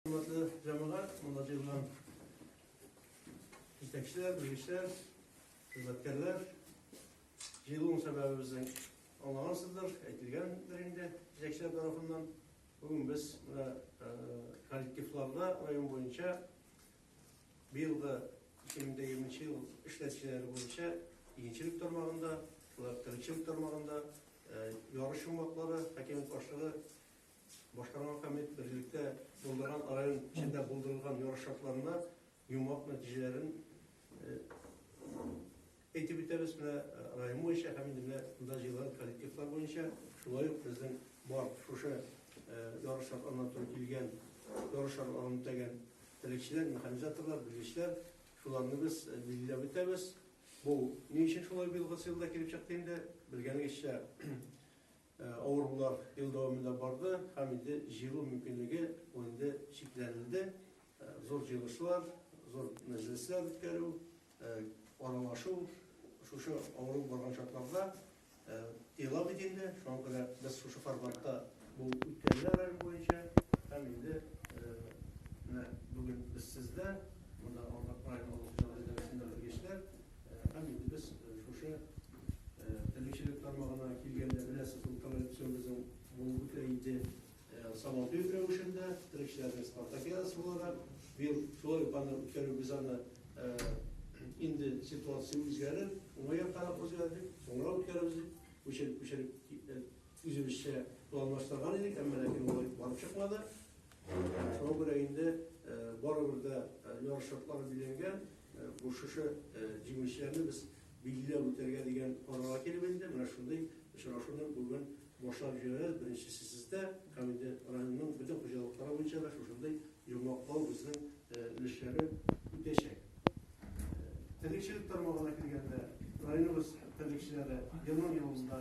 Хөрмәтле җәмәгать, монда җыелган җитәкчеләр, белгечләр, хезмәткәрләр. Җыелуның сәбәбе безнең аңлагансыздыр, әйтелгәндер инде җитәкчеләр тарафыннан. Бүген без менә коллективларда район буенча быелгы 2020 ел эшләүчеләре буенча игенчелек тармагында, шулай ук терлекчелек тармагында ярыш йомгаклары хакимият башлыгы Башкарма комитет берлектә булдырган район эчендә булдырылган ярыш шартларында йомгак нәтиҗәләрен әйтеп үтәбез менә район буенча һәм инде менә монда җыелган коллективлар буенча шулай ук безнең бар шушы ярыш шартларына туры килгән ярыш шартларын үтәгән телекчеләр механизаторлар белгечләр шуларны без билгеләп үтәбез бу ни өчен шулай быелгы сыйлда килеп чыкты инде белгәнегезчә Авырулар ел дәвамында барды һәм инде җыелу мөмкинлеге ул инде чикләнелде. Зур җыелышлар, зур мәҗлесләр үткәрү, аралашу шушы авыру барган чакларда тыела бит инде. Шуңа күрә без шушы форматта бу үткәрелә район буенча һәм инде менә бүген без сездә, монда Ардак районы авыл хуҗалыгы идарәсендә белгечләр, Рәхмәт инде без шушы терлекчелек тармагына килгәндә беләсез ул канализацион безнең булып үтә иде сабантуй рәвешендә терлекчеләрнең спартакиадасы буларак быел шулай ук аны үткәрү без аны инде ситуация үзгәрер уңай яккарак үзгәрдек соңрак үткәрербез дип күчереп күчереп үзебезчә планлаштырган идек әмма ләкин ул барып чыкмады Шуңа күрә инде барыбер дә яр шартлары билгеләнгән, бу шушы җиңүчеләрне без билгеләп үтәргә дигән карарга килеп инде, менә шундый очрашуны бүген башлап җибәрәбез, беренчесе сездә, һәм инде районның бөтен хуҗалыклары буенча да шушындый йомгаклау безнең өлешләре үтәчәк. Терлекчелек тармагына килгәндә, районыбыз терлекчеләре елның-елында,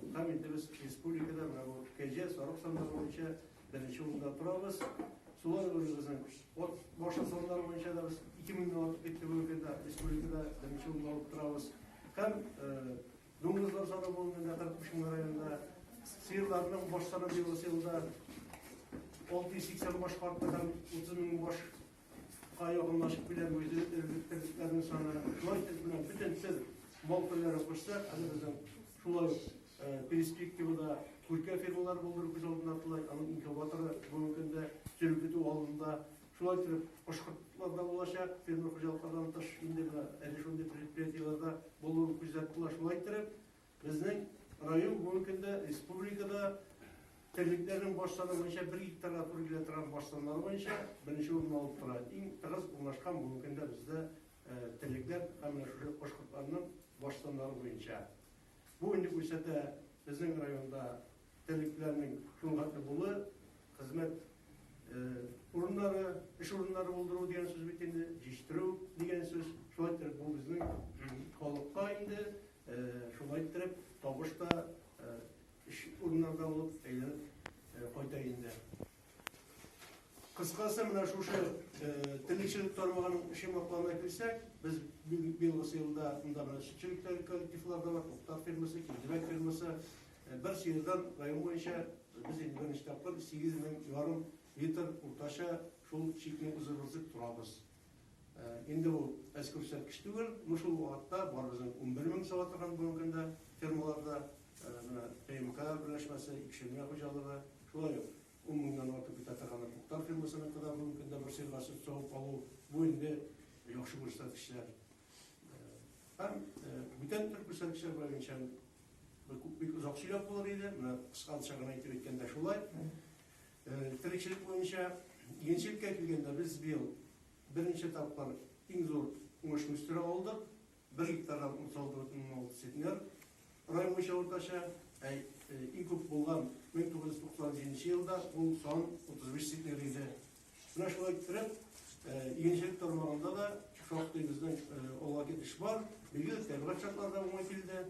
Кукам инде без республикада менә бу кәҗә, сарык саннары буенча беренче урында торабыз. Сулар районыбызның от башы саннары буенча да без 2 меңнән артык китте бүгенге көндә республикада беренче урында алып торабыз. Һәм дуңгызлар саны бүгенге көндә 45 мең районда сыерларның баш саны быелгы елда 680 башка артты һәм 30 мең баш Га якынлашып килә бу эзлекләрнең саны. Шулай итеп менә бөтен тел мал ферләре кушсак, әле безнең шулай ук э, перспективада күркә фермалар булдыру күз алдында тотыла, аның инкубаторы бүгенге көндә тел көтү алдында. Шулай итеп башкортлар да булачак, фермер хуҗалыклардан тыш инде менә әле шундый предприятиеләрдә булуын күздә тотыла. Шулай итеп Безнең район бүгенге көндә республикада терлекләрнең баш саны буенча бер гектарга туры килә торган баш саннары буенча беренче урынны алып тора. Иң тыгыз урнашкан бүгенге көндә бездә терлекләр һәм шушы кош кортларының баш саннары буенча. Бу инде күрсәтә безнең районда терлекләрнең кыйммәтле булуы, хезмәт урыннары, эш урыннары булдыру дигән сүз бит инде, җитештерү дигән сүз. Шулай иттереп, бу безнең халыкка инде шулай иттереп табыш та, эш урыннары да булып әйләнеп кайта инде. Кыскасы, менә шушы терлекчелек тармагының эше мотлана килсәк, без быелгы елда монда менә сөтчелек коллективлары да бар, Туктар фирмасы, Киндерәк фирмасы, Бер сыердан район буенча без инде берничә тапкыр сигез мең ярым литр уртача шул чикне узырыбызып торабыз. Инде ул әз күрсәткеч түгел, ну шул вакытта барыбызның унбер мең сала торган бүгенге көндә фермаларда менә ТМК берләшмәсе, Икшемә хуҗалыгы, шулай ук ун меңнән артык бетә торган Актар фермасыныкы да бүгенге көндә бер сыерга сөт савып алу, бу инде яхшы күрсәткечләр. Һәм бүтән төрк күрсәткечләр буенча бик озак сөйләп булыр иде, менә кыскалча гына итеп әйткәндә шулай. Терекчелек буенча игенчелеккә килгәндә без быел беренче тапкыр иң зур уңыш үстерә алдык. Бер гектардан 36,6 центнер. Район буенча уртача, ә иң күп булган 1997 елда ул сан 35 центнер иде. Менә шулай иттереп, игенчелек тармагында да шактый безнең алга китеш бар. Бигрәк тә тәбигать шартлары да уңай килде.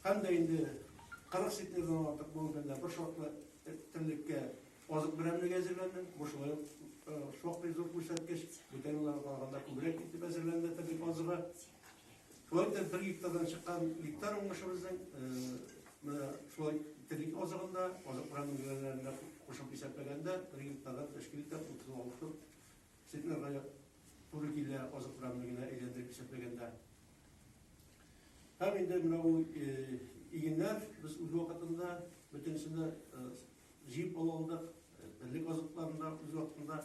Һәм дә инде 40 сетнердан артык бүгенге көндә бер шартлы терлеккә азык берәмлеге әзерләнде. Бу шулай ук шактый зур күрсәткеч. Бүтән елларга караганда күбрәк итеп әзерләнде терлек азыгы. Шулай да бер гектардан чыккан гектар уңышыбызның менә шулай терлек азыгында, азык программаларында кушып исәпләгәндә бер гектардан тәшкил итә 36 центнерга туры килә азык программаларына әйләндереп исәпләгәндә. Һәм инде менә бу игеннәр без үз вакытында бөтенесендә Җыеп алу алдык, элек азыкларында үз вакытында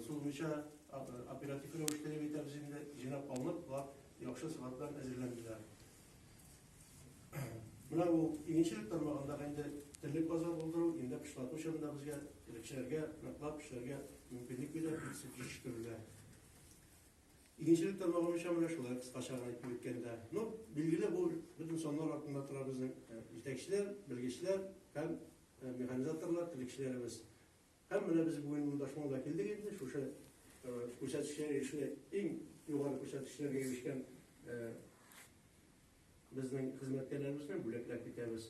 сузмыйча оператив рәвештә дип әйтәбез инде, җыйнап алынып, болар яхшы сыйфат белән әзерләнделәр. Менә ул игенчелек тармагында инде элек азык булдыру, инде кышлату чорында безгә элекчеләргә ныклап эшләргә мөмкинлек бирә, җитештерүләр. Игенчелек тармагы буенча менә шулай кыскача гына әйтеп үткәндә. Ну, билгеле, бу бөтен саннар артында тора безнең җитәкчеләр, белгечләр һәм механизаторлар, терлекчеләребез. Һәм менә без бүген монда шуңа да килдек инде, шушы күрсәткечләр ирешүе иң югары күрсәткечләргә ирешкән безнең хезмәткәрләребезне бүләкләп китәбез.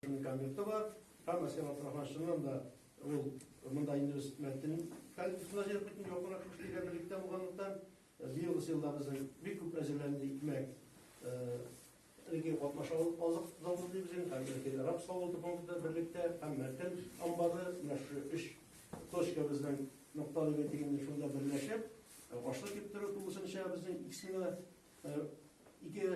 Комменты бар, һәм Асен Абдрахман чыннан да ул монда инде без мәтен коллективына җыеп бөтен якынрак кешеләр берлектә булганлыктан быелгы сыйлар безнең бик күп әзерләнде икмәк элекке катнаша алып азык заводы дибез инде һәм элекке рапс заводы фонды берлектә һәм мәтен амбары менә шу өч точка безнең нокталы бәйтегенде шунда берләшеп ашлык киптерү тулысынча безнең иксенә Ике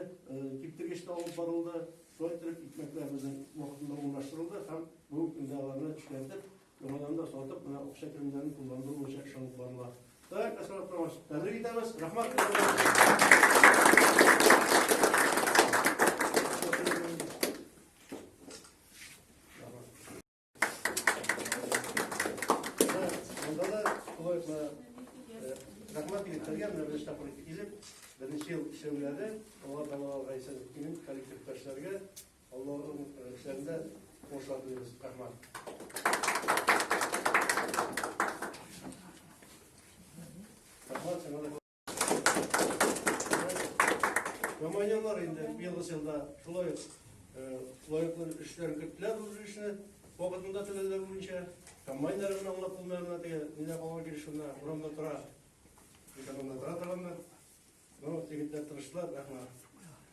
киптергеч тә алып барылды. Шулай итеп, икмәкләр безнең вакытында урнаштырылды һәм бүгенге көндә аларны эшкәртеп, яңадан да сатып, менә акча керемнәрен кулландыру буенча эш алып барыла. Так, Асрат Павлович, тәбрик итәбез. Рәхмәт. Монда да психологларга рәхмәт егетләргә менә бер штаб булып килеп, беренче ел эшләүләре, алар да аларга исән имин коллективтәшләргә Аллаһның эшләрендә кошат булыгыз. Рәхмәт. Рәхмәт сиңа Командирлар инде быелгы елда шулай лаеклы эшләр көттеләр бу эшне вакытында түләүләр буенча комбайннарны аңлап булмаганнар теге нидә калган килеш шунда урамда тора экономда тора торганнар но егетләр тырыштылар рәхмәт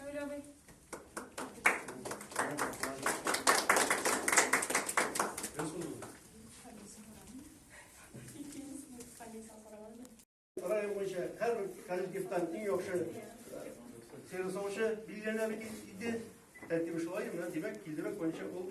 Кәүләбай. Район буенча һәрбер коллективтан иң яхшы сыйры савучы билгеләнә бит инде. Тәртибе шулай, менә димәк, килдерү буенча ул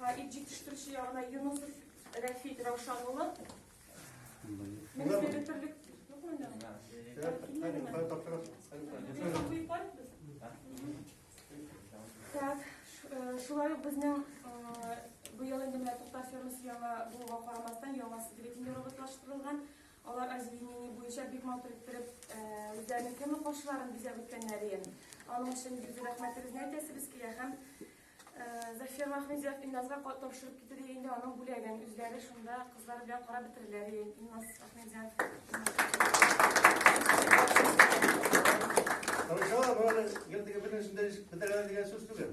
Хәбиб җитештерүче ягына Юнусов Рәфит Раушан улы. Мин бирә төрлек юк монда. Так, шулай ук безнең быел инде менә Туктар фермасы яңа булуга карамастан, яңасы бюллетень роботлаштырылган. Алар озеленение буенча бик матур иттереп үзләренең кемлек каршыларын бизәп үткәннәр иде. Аның өчен бик зур рәхмәтебезне әйтәсебез килә һәм Зафир Махмедзев Инназга тапшырып китте дигән инде аның бүләген үзләре шунда кызлар белән карап бетерделәр иде. Инназ Ахмедзев. Хорошо, бары гел диген битәргә дигән сүз түгел.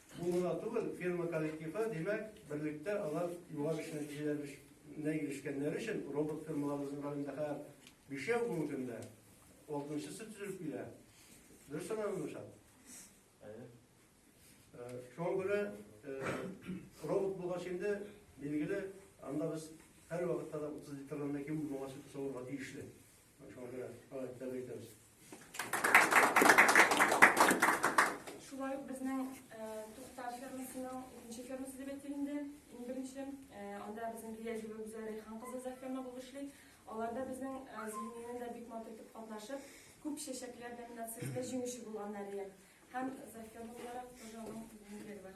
Бу гына түгел, фирма коллективы, димәк, берлектә алар югары эш нәтиҗәләренә ирешкәннәре өчен робот фирмаларыбызның районында хәзер бишәү бүгенге көндә, алтынчысы төзелеп килә. Дөрес санадым, Гөлшат? Әйе. Шуңа күрә робот булгач инде, билгеле, анда без һәр вакытта да 30 литрлардан ким булмаганча савырга тиешле. Шулай ук безнең Туктар фермасының икенче фермасы дип әйтик инде. Иң беренче анда безнең Гилязева Гүзәл Рәйхан кызы за ферма булып эшли. Аларда безнең Зөлминен дә бик матур итеп катнашып, күп чәчәкләр номинациясендә җиңүче булганнар иде. Һәм за ферма буларак тоже аның бүген бар.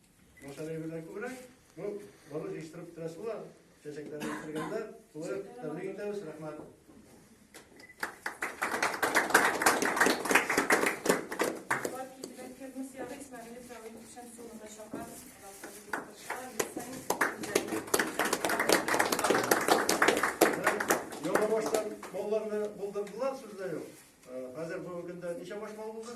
Матаны белән күбрәк, ну, бары җыештырып торасы була, чәчәкләрне кергәндә, шулай ук тәбрик итәбез, рәхмәт. Яңа баштан малларны булдырдылар, сүз дә юк. Хәзер бүгенге көндә ничә баш мал булды?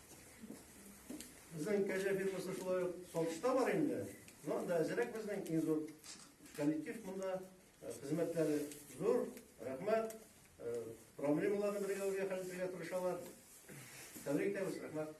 Безнең кәҗә фирмасы шулай ук Солтыста бар инде. Но анда әзерәк безнең иң зур коллектив монда э, хезмәтләре зур. Рәхмәт. Э, проблемаларны бергә үргә хәл итәргә тырышалар. Тәбрик итәбез, рәхмәт.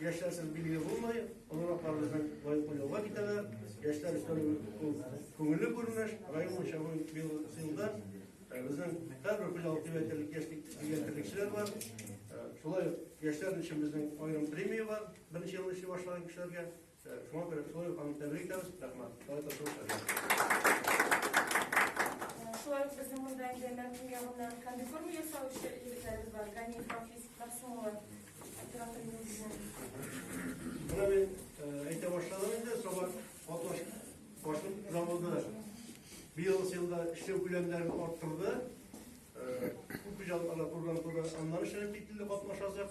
Яшьләрсез билгеле булмый, олыраклар безнең лаеклы юлга китәләр. Яшьләр өчен ул күңелле күренеш, район буенча бу елда безнең һәрбер филиал төбәтерлек яшьлек дигән терлекчеләр бар. Шулай яшьләр өчен безнең аерым премия бар. Беренче ел эшли башлаган кешеләргә Шулай ук безнең монда инде Мәркүм ягыннан комбикорм ясау эше егетләребез бар. Ганиев Рафис, Мәгъсүм улы, оператор инде безнең. Менә мин әйтә башладым инде, соңа Аташ башын заводы быел елда эшләү күләмнәрен арттырды. Күп хуҗалыкларда курган курган аннан эшләнеп кителде катнашасыз.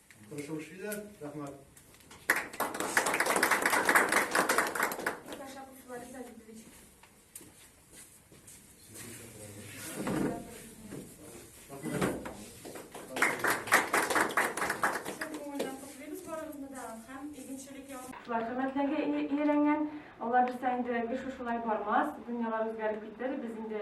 Кошук шилә, рәхмәт. Хөрмәтләргә иеләнгән, алар бирсә инде эш шулай бармас, дөньялар үзгәреп китер, без инде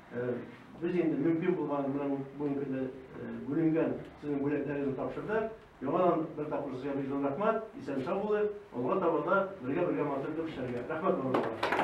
Без инде мөмкин булган менә бүгенге көндә бүленгән сезнең бүләкләрегезне тапшырдык. Яңадан бер тапкыр сезгә бик зур рәхмәт. Исән-сау булыйк. Алга таба да бергә-бергә матур итеп эшләргә. Рәхмәт, барлыгыгызга.